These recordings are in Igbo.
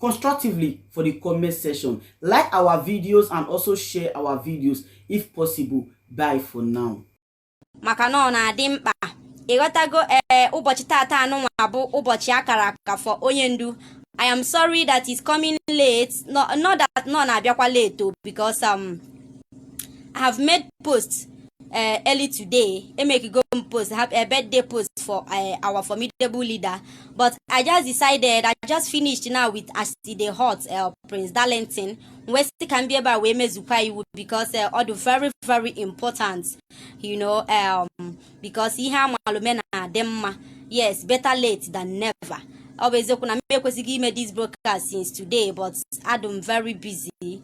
constructively for the comment section. Like our videos and also share our videos if possible. Bye for now. maka na ọ na-adị mkpa ịghọtago ee eh, ụbọchị tata nụnwa bụ ụbọchị a kara aka for onye ndu I am sorry that it's coming late not, not that na ọ na-abịakwa late o oh, because um, i have made post uh, early today emekego post have a birthday post for uh, our formidable leader but i just decided i just finished now with as e dey hot uh, prince darlington wee sị ka m bịa ebe a wee mezukwa iwu because uh, ọ dị very very important you know um, because ihe a malu mee na-adị mma yes better late than never ọ bụ eziokwu na m ekwesịgo ime this broadcast since today but adụ m very busy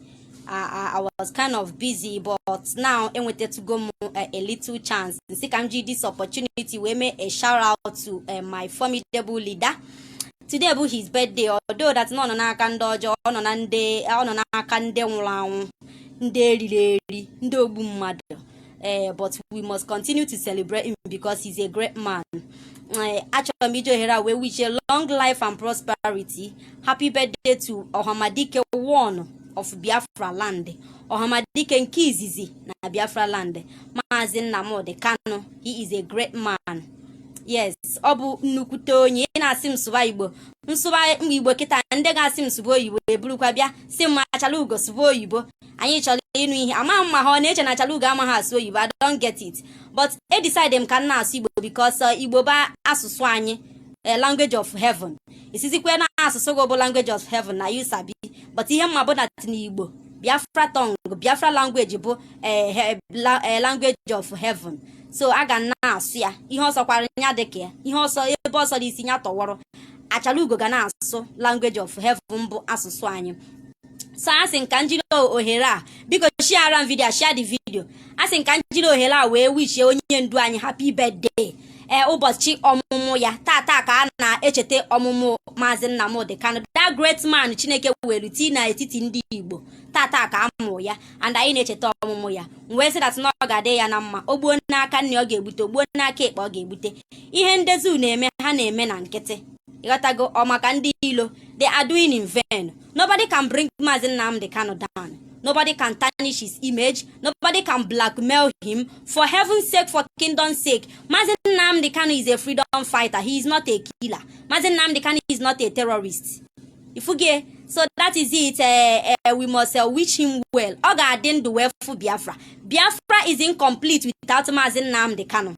I, I was kind of busy but now enwetatụgo m eh, a little chance m sị ka m ji this opportunity wee mee a shout out to eh, my formidable leader today bụ his birthday although that na ọ nọ n'aka ndị ọjọọ ọ nọ na ndị ọ nọ n'aka ndị nwụrụ anwụ ndị e riri eri ndị ogbu mmadụ ee but we must continue to celebrate him because he's a great man Eh, achọrọ m iji ohere a wee wish you long life and prosperity happy birthday to ọhamadike one of biafra land ọhamadike nke izizi na biafra land maazị nnamdị kanu he is a great man yes ọ bụ nnukwute onye ị na-asị m sụba igbo m sụba igbo kịta ndị ga-asị m sụba oyibo eburukwa bịa sị m achala ugo sụba oyibo anyị chọrọ ịnụ ihe ama m ma ha na-eche na Achalugo amaghị asụ oyibo I don't get it but e decide m ka m na-asụ Igbo because uh, Igbo bụ asụsụ anyị eh, language of heaven ị sịzịkwa na asụsụ gị bụ language of heaven na you sabi but ihe m ma bụ na n'Igbo Biafra tongue Biafra language bụ eh, eh, language of heaven so a ga na-asụ ya ihe ọ sọkwara ya dịka ya ihe ọ sọ ebe ọ sọ dị isi ya tọwọrọ Achalugo ga na-asụ language of heaven bụ asụsụ anyị so asị m ka m jiri ohere a biko shiara m video share the video asị m ka m jiri ohere a wee wishie onye ndu anyị happy birthday ee eh, ụbọchị ọmụmụ ya tata ka a na-echeta ọmụmụ maazị Nnamdi Kanu that great man Chineke welu tii n'etiti ndị Igbo tata ka a mụrụ ya and anyị na-echeta ọmụmụ ya wee sị that na ọ ga-adị ya na mma o gbuo n'aka nri ọ ga-egbute o gbuo n'aka ekpe ọ ga-egbute ihe ndị zoo na-eme ha na-eme na nkịtị ịghọtago ọ maka ndị ilo they are doing in vain nobody can bring Mazi Nnamdi Kanu down nobody can tarnish his image nobody can blackmail him for heaven's sake for kingdom's sake Mazi Nnamdi Kanu is a freedom fighter he is not a killer Mazi Nnamdi Kanu is not a terrorist ifuge so that is it uh, uh, we must uh, wish him well ọ ga-adị ndụ wee fụ Biafra Biafra is incomplete without Mazi Nnamdi Kanu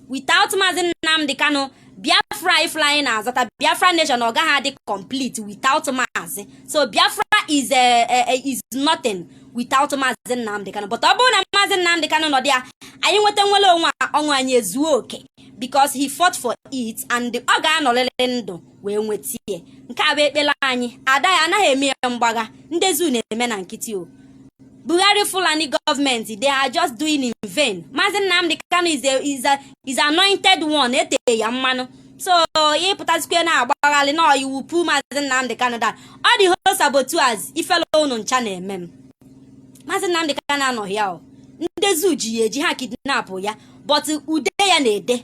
without Mazi Nnamdi Kanu biafra if na anyị na-azọta biafra nation ọ gaghị adị complete without maazị so biafra is eh, eh, eh, is nothing without maazị nnamdị kanụ but ọ bụrụ na maazị nnamdị kanụ nọdụ ya anyị nweta nwere onwe ọṅụ anyị ezuo oke because he fought for it and ọ ga-anọrịrị ndụ wee nweta ya nke a bụ ekpere anyị adịghị anaghị eme ya mgbagha ndị zoo na-eme na nkịtị o Buhari Fulani government they are just doing in vain Maazị Nnamdi Kanu is a, is a, is anointed one ete ya mmanụ so ya ị pụtazikwe na-agbagharị na you will pull Maazị Nnamdi Kanu down all the whole saboteurs ifele unu ncha na-eme m Maazị Nnamdi Kanu anọghị ya o ndị zoo ji ya eji ha kidnapụ ya but ude ya na-ede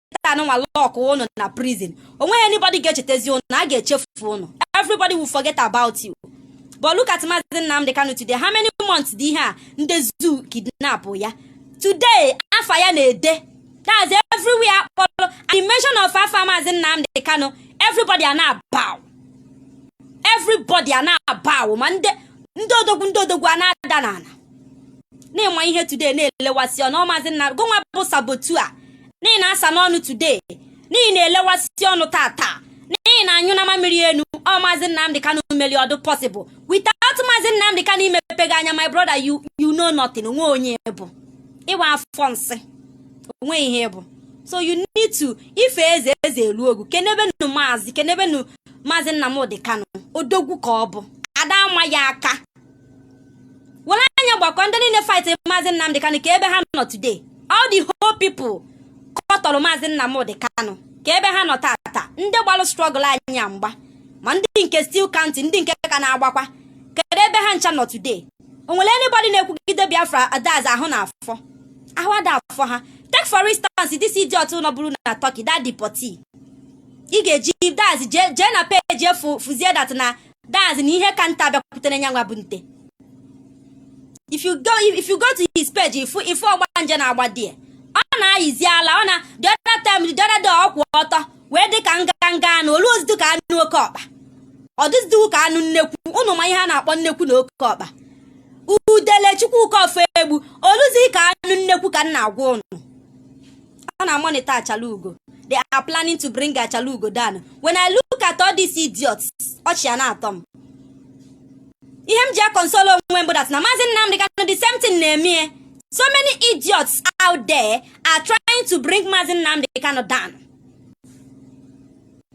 anụnwa lock ụnụ na prison o nweghị anybody ga-echetezi ụnụ a ga-echefu ụnụ everybody will forget about you but look at Mazi Nnamdi Kanu today how many months dị ihe a ndị zoo kidnap ya today afa ya na-ede that's everywhere a kpọrọ the mention of afa Mazi Nnamdi Kanu everybody a na-abow everybody a na-abow ma ndị odogwu ndị odogwu a na-ada n'ala na ị ma ihe today na-elewasị ọnụ ọ maazị nna gị nwa bụ saboteur n'ihi na asa n'ọnụ today n'ihi na-elewasị ọnụ tata n'ihi na anyụ na mamiri enu ọ maazị Nnamdi Kanu meli ọ dị possible without maazị Nnamdi Kanu imepe gị anya my brother you you know nothing o nwe onye bụ ịwa afọ nsị o nwe ihe ị bụ so you need to ife eze eze elu ogu kenebenu maazị kenebenu maazị Nnamdi Kanu odogwu ka ọ bụ a da ama ya aka were anya gbakọ ndị niile fight maazị Nnamdi Kanu ka ebe ha nọ today all the whole people kọtọrọ maazị Nnamdi Kanu ka ebe ha nọ tata ndị gbalụ struggle anyị a mgba ma ndị nke still counting ndị nke ka na-agbakwa kedu ebe ha ncha nọ today o nwere anybody na-ekwugide Biafra adaz ahụ na afọ ahụ a da afụ ha take for instance this idiot nọbụrụ na Turkey that deportee ị ga-eji that's jee na page ị fụ fụzie that na that's na ihe ka nte bịakwutere nyanwa bụ nte if you go if you go to his page ị fụ ị fụ ọgbanje na-agba di ọ na-ayizi ala ọ na the other time the other day ọ kwụ ọtọ wee dị ka nganga anụ olu ozidu ka anụ oke ọkpa ọ dịzidiwu ka anụ nnekwu ụnụ ma ihe a na-akpọ nnekwu na oke ọkpa Udele Chukwuka Ofoegbu o luzi ka anụ nnekwu ka m na-agwa ụnụ a na-amonitor Achalugo they are planning to bring Achalugo down when i look at all these idiots ọchị a na-atọ m ihe m ji aconsole onwe m bụ that na maazị Nnamdi Kanu the same thing na-eme so many idiots out there are trying to bring maazị Nnamdi Kanu down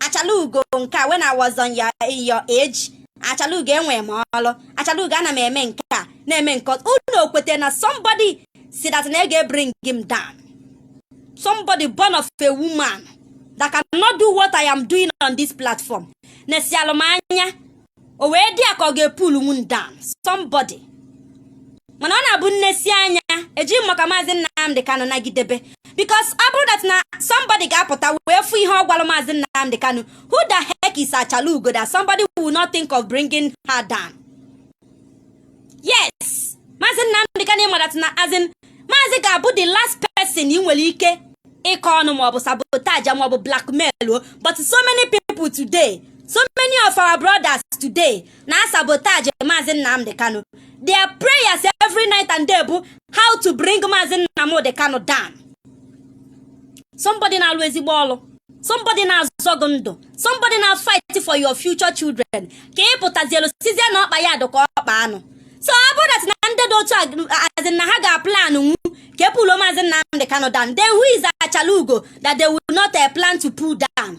Achalugo nke a when I was on your, your age Achalugo enwe m ọlụ Achalugo ana m eme nke a na-eme nke unu okwete na somebody sị that na a ga-ebring m down somebody born of a woman that cannot do what I am doing on this platform nesịalụ m anya o wee dị ya ka ọ ga-epull m down somebody mana ọ na-abụ m nesịa anya eji m maka maazị Nnamdi Kanu nagidebe because ọ bụrụ that na somebody ga-apụta wee fụ ihe ọ gwara maazị Nnamdi Kanu who the heck is Achalugo that somebody will not think of bringing her down yes maazị Nnamdị Kanu ị ma that na as in maazị ga-abụ the last person ị nwere ike ịkọ ọnụ maọbụ sabotage maọbụ blackmail o but so many people today so many of our brothers today na sabotage maazị Nnamdị Kanu their prayers every night and day bụ how to bring maazị Nnamdị Kanu down somebody na-alụ ezigbo ọlụ somebody na-azọ gị ndụ somebody na-afight for your future children ka ị pụtazielu sịzie na ọkpa ya dụka ọkpa anụ so ọ bụrụ that na ndị dị otu a sị na ha ga-aplannwu ka e puluo maazị Nnamdị Kanu down then who is Achalaugo that they will not eh, plan to pull down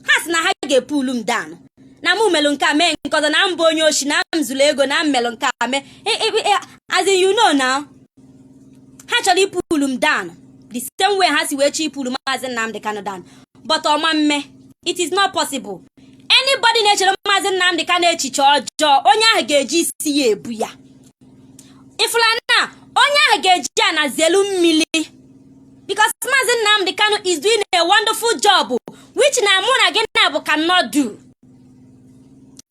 ha sị na ha ga-epulu m down na mụ melụ nke a mee nke ọzọ na m bụ onye oshi na m zuru ego na m melụ nke a mee as in you know now ha chọrọ ipulu m down the same way ha si wee chọ ipulu maazị Nnamdi Kanu down but ọ ma mme it is not possible anybody na-echere maazị Nnamdi Kanu echiche ọjọọ onye ahụ ga-eji isi ya ebu ya ị fụlụ na onye ahụ ga-eji ana zelu mmili because maazị Nnamdi Kanu is doing a wonderful job which na mụ na gị naabọ cannot do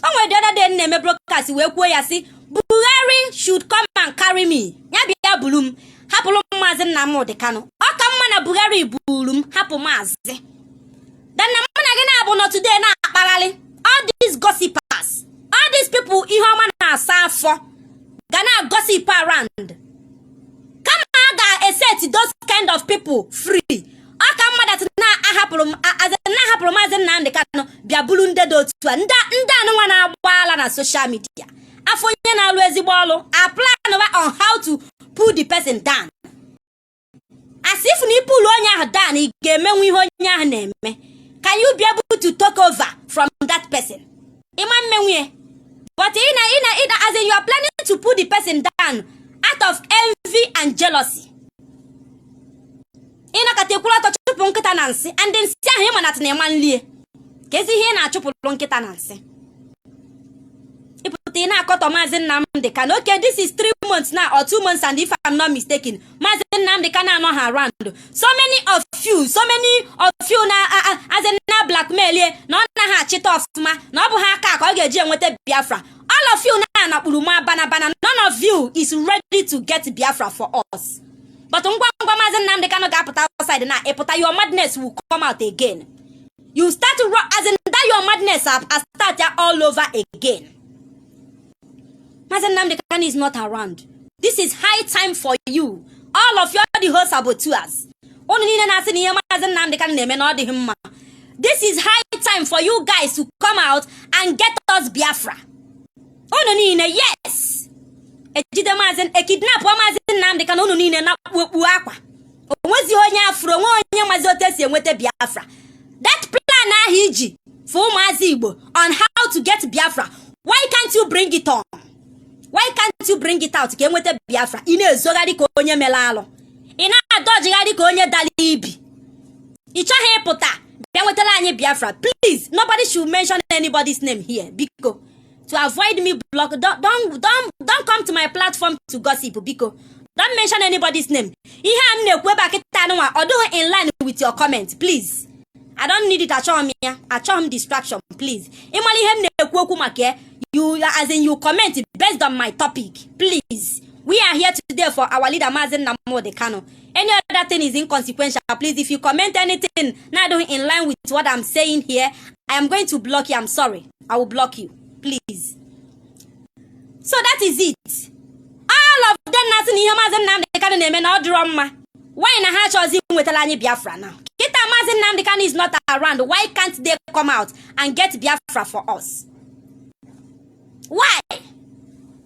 o nwere the other day m na-eme broadcast wee kwuo ya sị Buhari should come and carry me ya bịa buru m hapụrụ m maazị Nnamdi Kanu ọ ka mma na Buhari buru m hapụ maazị than na mụ na gị naabọ nọ today na-akpagharị all these gossipers all these people ihe ọma na-asa afọ ga na-agossip around kama a ga-eset those kind of people free ọ ka mma that na a hapụrụ na a hapụrụ maazị Nnamdị Kanụ bịa bulu ndị dị otu a ndị anụnwa na-agba ala na social media a fụ onye na-alụ ezigbo ọlụ a planụwa on how to pull the person down as if na ipulu onye ahụ down ị ga-emenwu ihe onye ahụ na-eme can you be able to take over from that person ị ma mmenwu ye but ị na ị na ị na as in you are planning to pull the person down out of envy and jealousy ị na-aghọta ị kwụrụ ọtọ chụpụ nkịta na nsị and nsị ahụ ịma na atị na ị ma nlie keezi ihe ị na-achụpụrụ nkịta na nsị ị pụta ị na-akọtọ maazị Nnamdi Kanu okay this is three months now or two months and if I'm not mistaken maazị Nnamdị Kanụ anọhọ around so many of you so many of you as in na-ablackmail ye na ọ naghị achịta ọfụma na ọ bụhọ aka a ka ọ ga-eji enweta Biafra all of you na-anakpuru ma bana bana none of you is ready to get Biafra for us but ngwa ngwa maazị Nnamdị Kanụ ga-apụta outside na ịpụta your madness will come out again you start to run as in that your madness astart all over again Mazi Nnamdi Kanu is not around. This is high time for you. All of you are the whole saboteurs. Unu niile na-asị na ihe Mazi Nnamdi Kanu na-eme na ọ dịghị mma. This is high time for you guys to come out and get us Biafra. Unu niile yes. Ejide Mazi ekidnapụọ Mazi Nnamdi Kanu unu niile na-akpụ okpu akwa. onwezi onye afụrụ onwe onye mazi otu esi enweta biafra that plan ahụ i ji for ụmụazị igbo on how to get biafra why can't you bring it on why can't you bring it out ka enweta biafra ị na-ezogharị ka onye melụ alụ ị na-adọjigharị ka onye dalụ ibi ị chọghị ịpụta bịa nwetara anyị biafra please nobody should mention anybody's name here biko to avoid me block don't, don't, don't, don't come to my platform to gossip biko don't mention anybody's name ihe a m na-ekwu ebe a kịta anụnwa ọ dịghị in line with your comment please i don't need it achọghị m ya achọghị m distraction please ị mara ihe m na-ekwu okwu maka ya you as in you comment based on my topic please we are here today for our leader Mazi Nnamdi Kanu any other thing is inconsequential please if you comment anything na-adịghị in line with what i'm saying here i am going to block you i'm sorry i will block you please so that is it all of them na-asị na ihe maazị Nnamdị Kanu na-eme na ọ dịrọ mma why na ha achọzi nwetalụ anyị Biafra na kịta maazị Nnamdị Kanu is not around why can't they come out and get Biafra for us why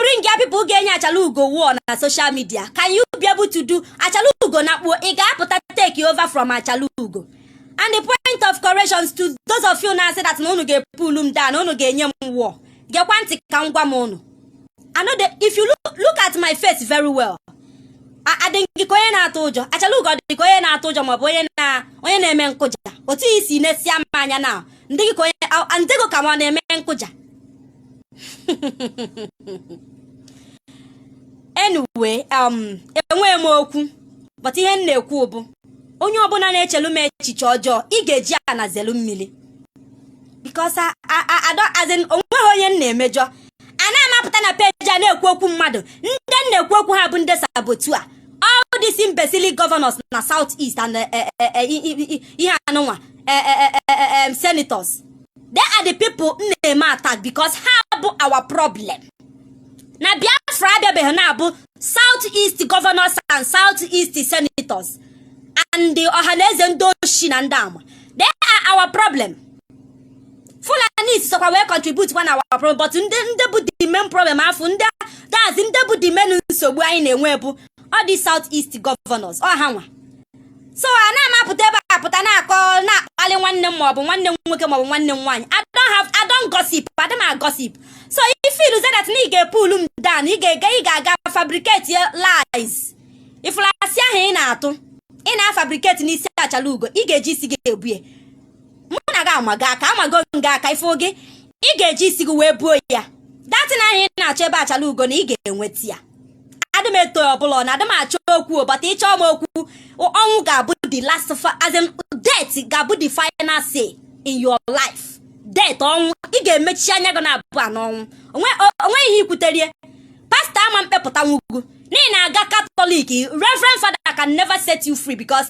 bring ya people ga-enye achala ugo war na social media can you be able to do achala ugo nakpuo ị ga-apụta take over from achala ugo and the point of corrections to those of you na-asị that na unu ga-epull m down unu ga-enye m war gekwa ntị ka m gwa unu I know that if you look, look at my face very well adị m gị ka onye na-atụ ụjọ achala ugo dị ka onye na-atụ ụjọ maọbụ onye na onye na-eme nkụja otu i si nesia m anya na m dị gị ka onye m dị gị ka m na-eme nkụja anyway um enweghị m okwu but ihe m na-ekwu bụ onye ọbụna na-echelu m echiche ọjọọ ị ga-eji ana zelu mmiri because onweghị onye m na-emejọ anaghị m apụta na page a na-ekwu okwu mmadụ ndị m na-ekwu okwu ha bụ ndị saboteur all these imbecile governors na south east and eh, eh, eh, ihe anụnwa senators they are the people m na-eme attack because ha bụ our problem na biafra abịabeghị na ọ bụ south east governors and south east senators and the ọhaneze ndị oshi na ndị ama they are our problem fulani sokwa wee contribute on our problem but ndị ndị bụ the main problem afụ ndị that is ndị bụ the main nsogbu anyị na-enwe bụ ọ the south east governors ọ ha nwa so ana m apụta ebe a apụta na-akọ na-akpali nwanne m maọbụ nwanne m nwoke maọbụ nwanne m nwaanyị I don't have I don't gossip adị m agossip so if you say that na ị ga-epull m down ị ga-ega ị ga-aga fabricate your lies ị fụlụ asị ahụ ị na-atụ ị na-afabricate n'isi achala ugo ị ga-eji isi gị ebu ya mụ na gị amago aka amago m gị aka ị fụ gị ị ga-eji isi gị wee buo ya that thing ahụ ị na-achọ ebe achala ugo na ị ga-enweta ya adị m eto onye ọbụla na adị m achọ okwu but ị chọ m okwu ọnwụ ga-abụ the last as in death ga-abụ the final say in your life death ọnwụ ị ga-emechi anya gị naabụa n'ọnwụ onwe ihe ikwuterie pastor ama mkpepụtanwu gị n'ihi na-aga katọlik reverend father can never set you free because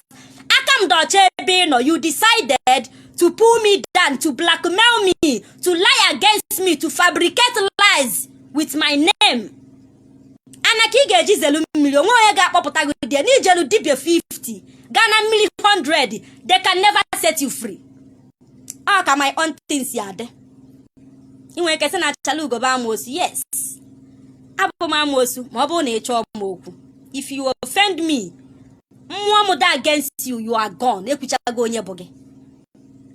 aka m dị ọcha ebe ị nọ you decided to pull me down to blackmail me to lie against me to fabricate lies with my name ana ka ị ga-eji zelu mmiri onwe onye ga-akpọpụta gị dị na ị jelu dibịa 50 gaa na mmiri 100 they can never set you free ọ ka my own thing si adị ị nwere ike sị na achala ugo bụ amoosu yes abụ m amoosu ma ọ bụrụ na ị chọọ m okwu if you offend me mmụọ m dị against you you are gone ekwuchago onye bụ gị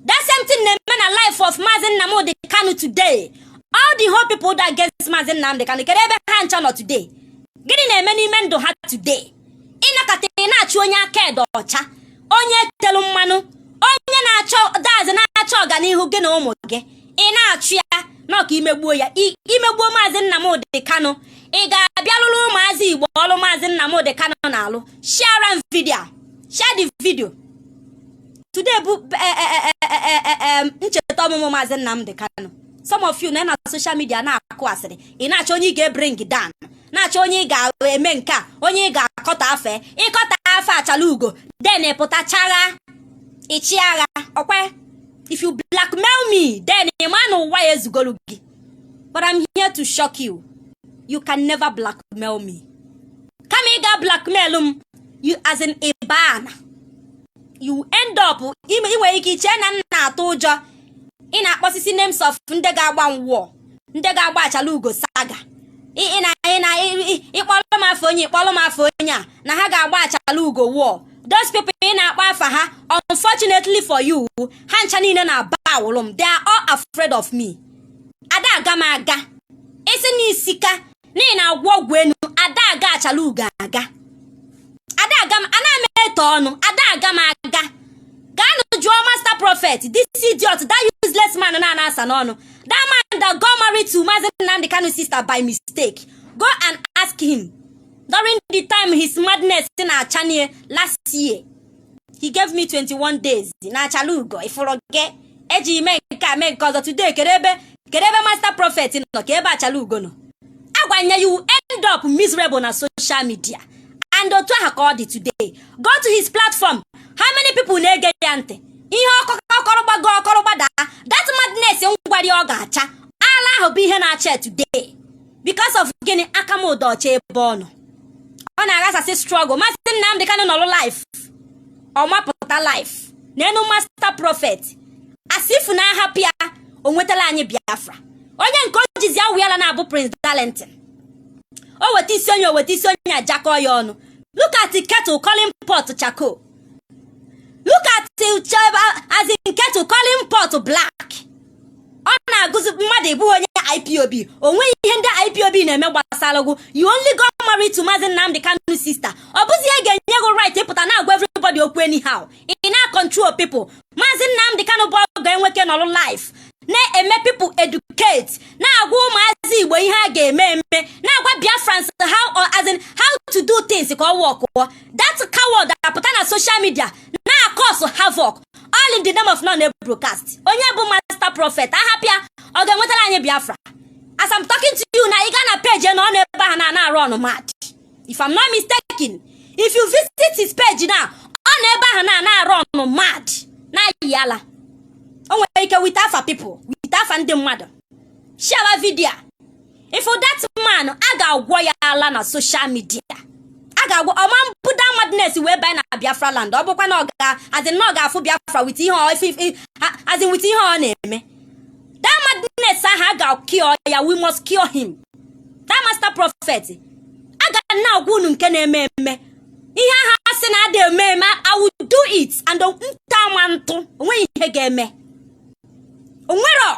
that same thing na-eme na life of Maazị Nnamdi Kanu today all the whole people dị against Maazị Nnamdi Kanu kee ebe ha ncha nọ today gịnị na-eme n'ime ndụ ha today ị nọkata ị na-achụ onye aka ya dị ọcha onye e telu mmanụ onye na-achọ that is na-achọ ọganihu gị na ụmụ gị ị na-achụ ya na ọ ka ị megbuo ya ị megbuo maazị Nnamdị Kanụ ị ga-abịa lụrụ ụmụazị Igbo ọrụ maazị Nnamdị Kanụ na-alụ share video share the video today bụ eh, eh, eh, ncheta ọmụmụ maazị Nnamdị Kanụ some of you nọ na social media na-akụ asịrị ị na-achọ onye ị ga-ebring down na-achọ onye ị ga-eme nke a onye ị ga-akpọta afa ị kpọta afa achala ugo then pụta chagha ịchị agha ọkwe if you blackmail me then ị ma na ụwa ezugolu gị but I'm here to shock you you can never blackmail me kama ị ga blackmail mụ as in ị bana you end up ị nwere ike iche na m na-atụ ụjọ ị na-akpọsisi names of ndị ga-agba m war ndị ga-agba achala ugo saga ị kpọlụ afa onye ị kpọlụ afa onye a na ha ga-agba achala ugo war those people ị na-akpọ afa ha unfortunately for you ha ncha niile na-abowlụ m they are all afraid of me ada aga m aga isi na isika n'ihi na a gwọọ ọgwụ enu ada aga achala ugo aga ada aga m ana m etu ọnụ ada aga m aga gaanụ jụọ master prophet this idiot that useless man na-ana asa n'ọnụ that man that got married to Mazi Nnamdi Kanu sister by mistake go and ask him during the time his madness na-acha nya last year he gave me 21 days na achala ugo ifụrụ gị eji ime nke a mee nke ọzọ today kedụ ebe kedụ ebe master prophet nọ ka ebe achala ugo nọ agwa nya you end up miserable na social media and otu ahụ ka ọ dị today go to his platform how many people na-ege ya ntị ihe ọ kọ ọ kọrọ gbago ọ kọrọ gbadaa that madness m gwara ya ọ ga-acha ala ahụ bụ ihe na-acha ya today because of gịnị aka mụ dị ọcha ebe ọ nọ ọ na-aghasasị struggle maazị Nnamdị Kanụ nọrụ live ọ mapụta live n'enu master prophet as if na a hapụ ya o wetara anyị Biafra onye nke o jizi awụ ya na-abụ Prince Darlington o weta isi onye o weta isi onye ajakọ ya ọnụ look at kettle calling pot charcoal look at as in kettle calling pot black ọ na-agwazi mmadụ ị bụghị onye IPOB o nweghị ihe ndị IPOB na-eme gbasara gụ you only got married to Maazị Nnamdi Kanu sister ọ bụzi ihe ga-enye gụ right ịpụta na-agwa everybody okwu anyhow ị na-control people Maazị Nnamdi Kanu bụ ọ ga-enwe ike nọrụ live na-eme people educate na-agwa ụmụazị Igbo ihe a ga-eme eme na-agwa Biafrans how or as in how to do things ka ọ workụọ that coward apụta na social media na-acause havoc all in the name of na ọ na-broadcast onye bụ master prophet a hapụ ya ọ ga-ewetara anyị biafra as I'm talking to you now ị gaa na page now ọ nọ ebe ahụ na-ana arun mad if I'm not mistaken if you visit his page now ọ nọ ebe ahụ na-ana arun mad na-ayị ala o nwere ike weta afa people weta afa ndị mmadụ share video a ị fụ that man a ga-agwọ ya ala na social media a ga-agwọ ọ ma ebu that madness wee banye na biafra land ọ bụkwa na ọ ga as in na ọ ga-afụ biafra with ihe ọ- as in with ihe ọ na-eme that madness ahụ a ga-kill ya we must kill him that master prophet a ga na-agwa unu nke na-eme eme ihe ahụ a sị na ada eme eme i will do it and nta ma ntụ o nweghị ihe ga-eme o nwero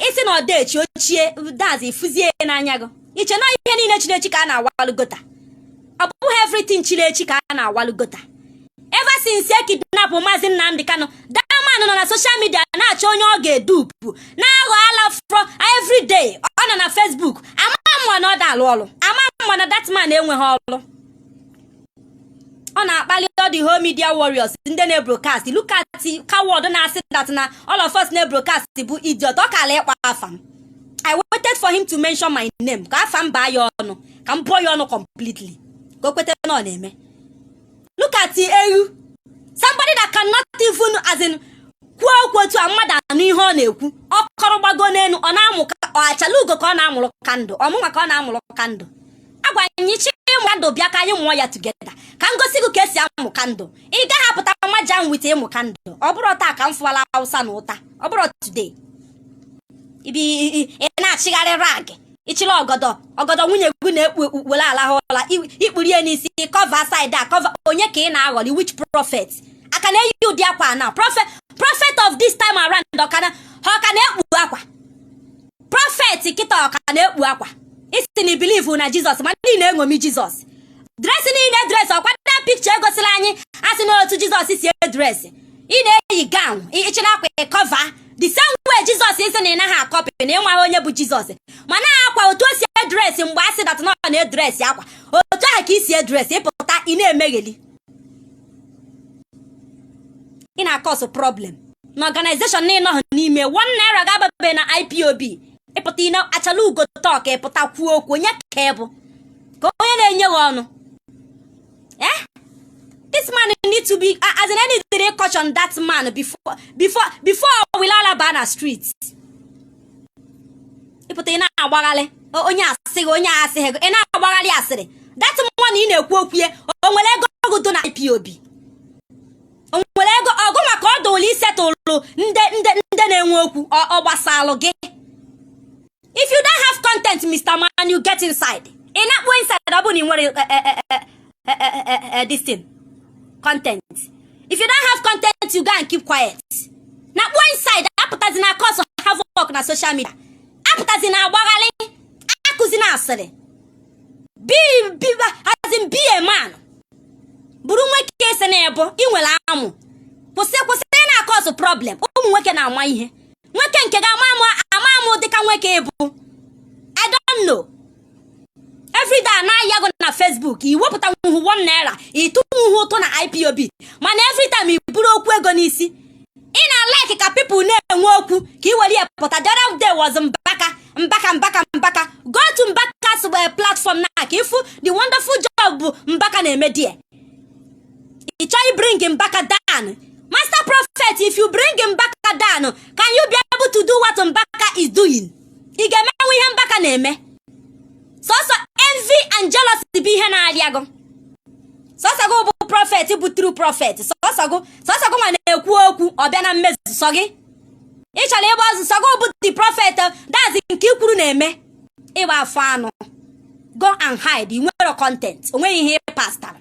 isi na ọ da echi o chie dazi fụzie n'anya gị i chee na ihe niile chiri echi ka a na-awalụ gutter ọ bụghị everything chiri echi ka a na-awalụ gutter ever since e kidnap maazị Nnamdi Kanu that man nọ na social media na-achọ onye ọ ga-edupu na-aghọ ala fro everyday ọ nọ na Facebook a ma ama na ọ da alụ ọlụ a ma ama na that man enweghị ọlụ ọ na-akpali all the whole media warriors ndị na-ebrokast look at coward na-asị that na all of us na-ebrokast bụ idiot ọ kala ịkpọ afa m i waited for him to mention my name ka afa m baa ya ọnụ ka m bụọ ya ọnụ completely ka o kweta na ọ na-eme look at ewu somebody that cannot even as in kwuo okwu otu a mmadụ anụ ihe ọ na-ekwu ọ kọrọ gbago n'elu ọ na-amụ ka ọ achalugo ka ọ na-amụrụ kandụ ọ mụnwa ka ọ na-amụrụ kandụ agwa anyị chi ịmụ kandụl bịa ka anyị mụọ ya tugeda ka m gosi gị ka e si amụ kandụl ị gaghị apụta nwa ji ahụ wite ịmụ kandụl ọ bụrụ taa ka m fụwala awụsa na ụta ọ bụrụ today ị bịa ị na-achịgharị rag ị chịrị ọgọdọ ọgọdọ nwunye gị na-ekpu ekpu were alaha ụla i kpuru ya n'isi kọva saịdị a kọva onye ka ị na-aghọli which prophet ka na-eyi ụdị akwa na prophet prophet of this time around ọ ka na ha ọ ka na-ekpu akwa prọfet kịta ọ ka na-ekpu akwa ị sị na i bilivu na jizọs mana ị na-eṅomi jizọs dresị ị na-edresị ọ kwa na pikcha e gosiri anyị a sị na otu jizọs si edresị ị na-eyi gawn ị chị na akwa ị kọva the same way jizọs ị sị na ị naghị akọpị na ị maghị onye bụ jizọs mana ọ kwa otu o si edresị mgbe a sị dat na ọ na-edresị ọ kwa otu ahụ ka i si edresị ị pụta ị na-emegheli ị na-akọsụ problem na ọganizeshọn na ị nọghị n'ime one naira gị ababe na ipob ị pụta ine achalaugo tọk ị pụta kwuo okwu onye ka ị bụ ka onye na-enye gị ọnụ eh? this man need to be as in e nidịrị caution that man before before before ọ wịa ala ba na street ị pụta ị na-agbagharị onye asịrị onye asịrị ị na-agbagharị asịrị dat mọnị ị na-ekwu okwu ya o nwere ego gị dị na IPOB o nwere ego gị maka ọ dụlụ isetụlụ ndị ndị ndị na-enwe okwu ọ gbasalụ gị if you don't have content Mr. Man you get inside ị nakpuo inside ọ bụ na ị nwere eh, eh, eh, uh, uh, uh, uh, this thing content if you don't have content you go and keep quiet nakpuo inside apụtazina cause havoc na social media apụtazina agbagharị akụzina asịrị as in be a man bụrụ nwoke ị sị na ị bụ ị nwere amụ kwụsị kwụsị ịna-akọsụ problem ụmụ nwoke na-ama ihe nwoke nke ga-ama amụ dịka nwoke ị bụ I don't know everyday a na-ahụ gị na Facebook i wepụtanwuhu one naira ị tụnwuhu ụtụ na IPOB mana every time i buru okwu ego n'isi ị na-alaiki ka pipụl na-enwe okwu ka i were ya pụta the other day was mbaka mbaka mbaka mbaka go to mbaka's eh, platform na ka ị fụ the wonderful job bụ mbaka na-eme there ị chọ ịbring mbaka down master prophet if you bring mbaka down can you be able to do what mbaka is doing ị ga-emenwu ihe mbaka na-eme sọsọ envy and jealousy bụ ihe na-arịa gụ sọsọ gị bụ prophet bụ true prophet sọsọ gị sọsọ gị nwa na-ekwu okwu ọ bịa na mmezu sọ gị ị chọrọ ịgba ọzọ sọ gị bụ the prophet that is nke i kwuru na-eme ịgba afọ anụ go and hide ị nwere content o nweghị ihe pastara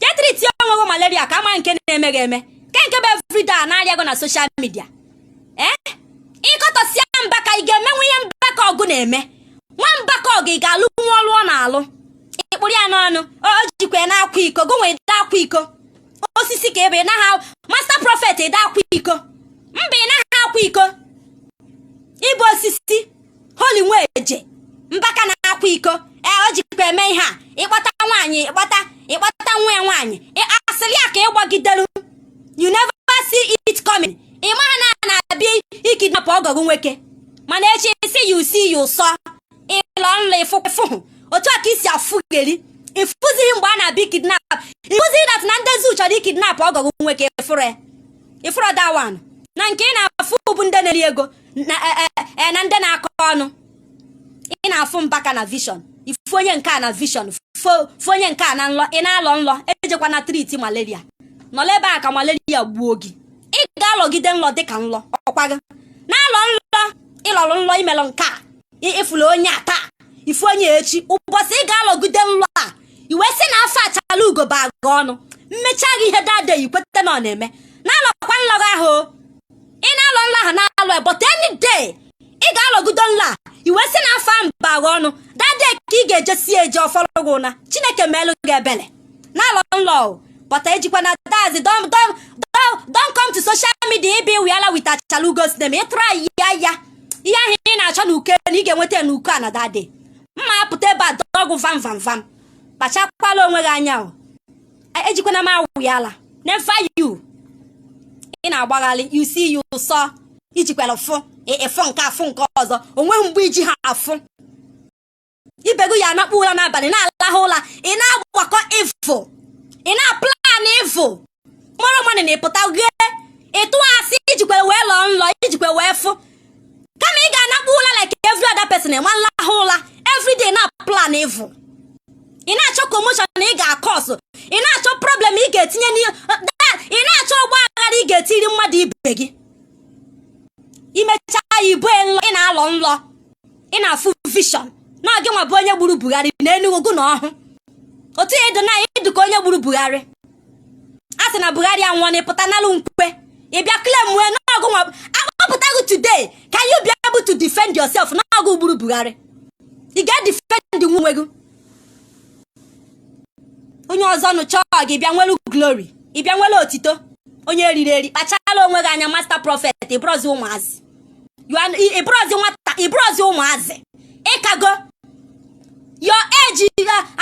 je treat onwe gị malaria ka a ma nke na-eme gị eme ke nke bụ everyday a na-arịa gị na social media ee ị kọtọsịa mbaka ị ga-emenwu ihe mbaka ọgụ na-eme nwa mbaka ọgụ ị ga-alụnwu ọlụ ọ na-alụ ị kpụrụ ya n'ọnụ o jikwa ya na-akwa iko gụ nwa ị da akwa iko osisi ka ebe ị naghị master prophet ị da akwa iko mba ị naghị akwa iko ị bụ osisi holy nweje mbaka na-akwa iko ee o jikwa eme ihe a ị kpọta nwaanyị ị kpọta ị kpọta nwa ya nwaanyị asịrị ya ka ịgbagidelu you never see it coming ị maha na a na-abịa ikidnapụ ọgọ gụ nwoke mana echi si ya usi ya ụsọ ị lọ nlọ ịfụfụhụ otu a ka isi afụgheri ị fụzighị mgbe a na-abịa ikidnap ị fụzighị that na ndị zu chọrọ ikidnap ọgọ gụ nwoke ị fụrọ ya ị fụrọ that one na nke ị na-afụ bụ ndị na-eri ego na e, e, e, ndị na-akọ ọnụ ị na-afụ mbaka na vision ị fụ onye nke a na vision fụ onye nke a na nlọ ị na-alọ nlọ ejekwana treat malaria nọla ebe a ka malaria gbuo gị ị ga-alọgide nlọ dịka nlọ ọkwa gị na-alọ nlọ ị lọrụ nlọ i melụ nke a ị fụla onye a taa ị fụ onye echi ụbọchị ị ga-alọgide nlọ a i wee si na afọ achalaugo ba aga ọnụ mmecha gị ihe that day i kweta na ọ na-eme na-alọkwa nlọ gụ ahụ ị na-alọ nlọ ahụ na-alọ ya but any day ị ga-alọgido nlọ a i wee si na afọ ahụ ba agha ọnụ that day ka ị ga-ejesi eje ọ fọrọ gị ụna chineke meelụ gị ebele na-alọ nlọ o but ejikwana that is don't don't don't don't come to social media ịbị wiala with achalaugo sinem ị tụrụ ayi ya ya ihe ahụ ị na-achọ na uke na ị ga-enweta ya na uke a na that day m ma apụta ebe a dọ gụ vam vam vam kpachakwala onwe gị anya o ejikwana m awụ ya ala never you ị na-agbagharị you see you sọ i jikwara fụ ị fụ nke a fụ nke ọzọ o nweghị mgbe i ji ha afụ ibe gụ ya anakpu ụra n'abalị na-alahụ ụra ị na-agbakọ evil ị na-aplan evil mụrụ mmadụ na-epụta ghe ịtụ asị i jikwa wee lọọ nlọ i jikwa wee fụ kama ị ga-anakpu ụla like every other person enwe nlahụ ụla everyday na-aplan evil ị na-achọ commotion na ị ga-akọsụ ị na-achọ problem ị ga-etinye ị na-achọ ọgba aghara ị ga-etiri mmadụ ibe gị i mechaa ya ibu nlọ ị na-alọ nlọ ị na-afụ vision na gị nwa bụ onye gburu Buhari na Enugu na ọhụ otu ya edo na ịdụ ka onye gburu Buhari a sị na buhari anwụọna ị pụta nalụ nkwe ị bịa claimuo na ọ gụ nwa a kpọpụta gị today can you be able to defend yourself na ọ gụ gburu buhari ị ga-edefendinwu onwe gị onye ọzọ nụchaa ọgụ ị bịa nwere glory ị bịa nwere otito onye e riri eri kpachala onwe gị anya master prophet ị bụrọzi ụmụazị ị bụrọzi nwata ị bụrọzi ụmụazị ị kago your age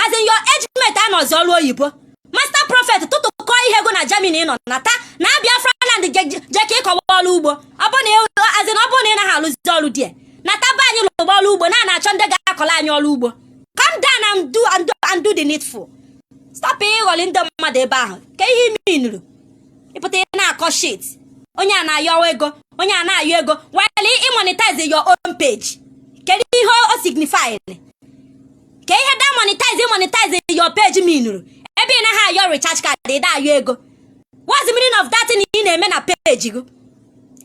as in your age mate anọzi ọrụ oyibo master prophet tụtụkọ ihe gụ na Germany ị nọ nata na Biafra land jee ka ị kọwa ọrụ ugbo a sị na ọ bụrụ na ị naghị alụzi ọrụ di nataba anyị lụgba ọrụ ugbo na na-achọ ndị ga-akọla anyị ọrụ ugbo come down and do and do the needful stop ịghọli ndị mmadụ ebe ahụ ka ihe minuru ị pụta ị na-akọ shit onye a na-ayọ ego onye a na-ayọ ego were ịmonetize your own page kedu ihe o signifying ka ihe da monetize monetize your page minuru ebe ị naghị ayọ recharge card ị da-ayọ ego what's the meaning of that thing ị na-eme na page gị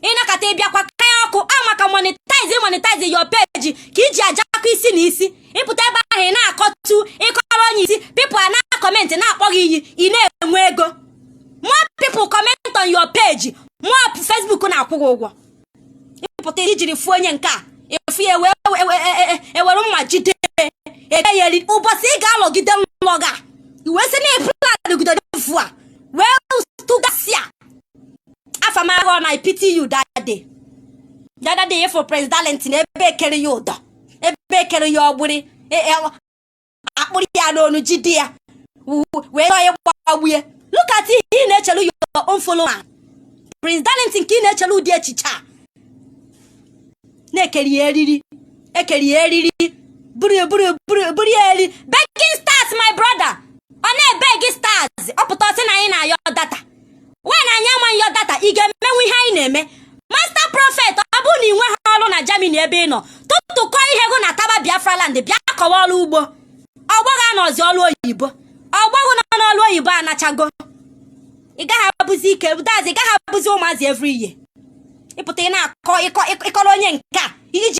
ị nọkata ị bịakwa kaya okwu a maka monetize monetize your page ka i ji ajakọ isi na isi ị pụta ebe ahụ ị na-akọtọ ị kọrọ onye isi people ana-acomment na-akpọ gị iyi ị na-enwe ego more people comment on your page more Facebook na-akwụ gị ụgwọ ị pụta ijiri fụ onye nke a efu ya ewere e, e, e, mma jide ede ya eri ụbọchị ị ga-anọgide n'ụlọ nga iwe si na ịpụlanụgide efu a wee tụgasịa afamahụ na ipiti yu dade dade ịfụ prezidalenti na ebe e kere ya ụdọ ebe e kere ya ọgbụrị akpụrụ ya n'onu jide ya wee nọ ya gbagbu ya look at ihe ị na-echelu your own follower Prince Darlington ka ị na-echelu ụdị echiche a na e kere ya eriri e kere ya eriri buru buru buru buru ya eri begging stars my brother ọ na-ebeg stars ọ pụta ọ sị na anyị na-ayọ data nwaanyị anyị anaghị ayọ data ị ga-emenwu ihe anyị na-eme master prophet ọ bụrụ na ị nweghị ọrụ na Germany ebe ị nọ tụtụkọ ihe gụ nataba Biafra land bịa kọwa ọrụ ugbo ọgbọghọ anọzi ọrụ oyibo ọgbọghọ nọ n'ọrụ oyibo anachago ị gaghị abụzi ike dazi ị gaghị abụzi ụmụazị every ihe ị pụta ị na-akọ ị kọrọ onye nke a iji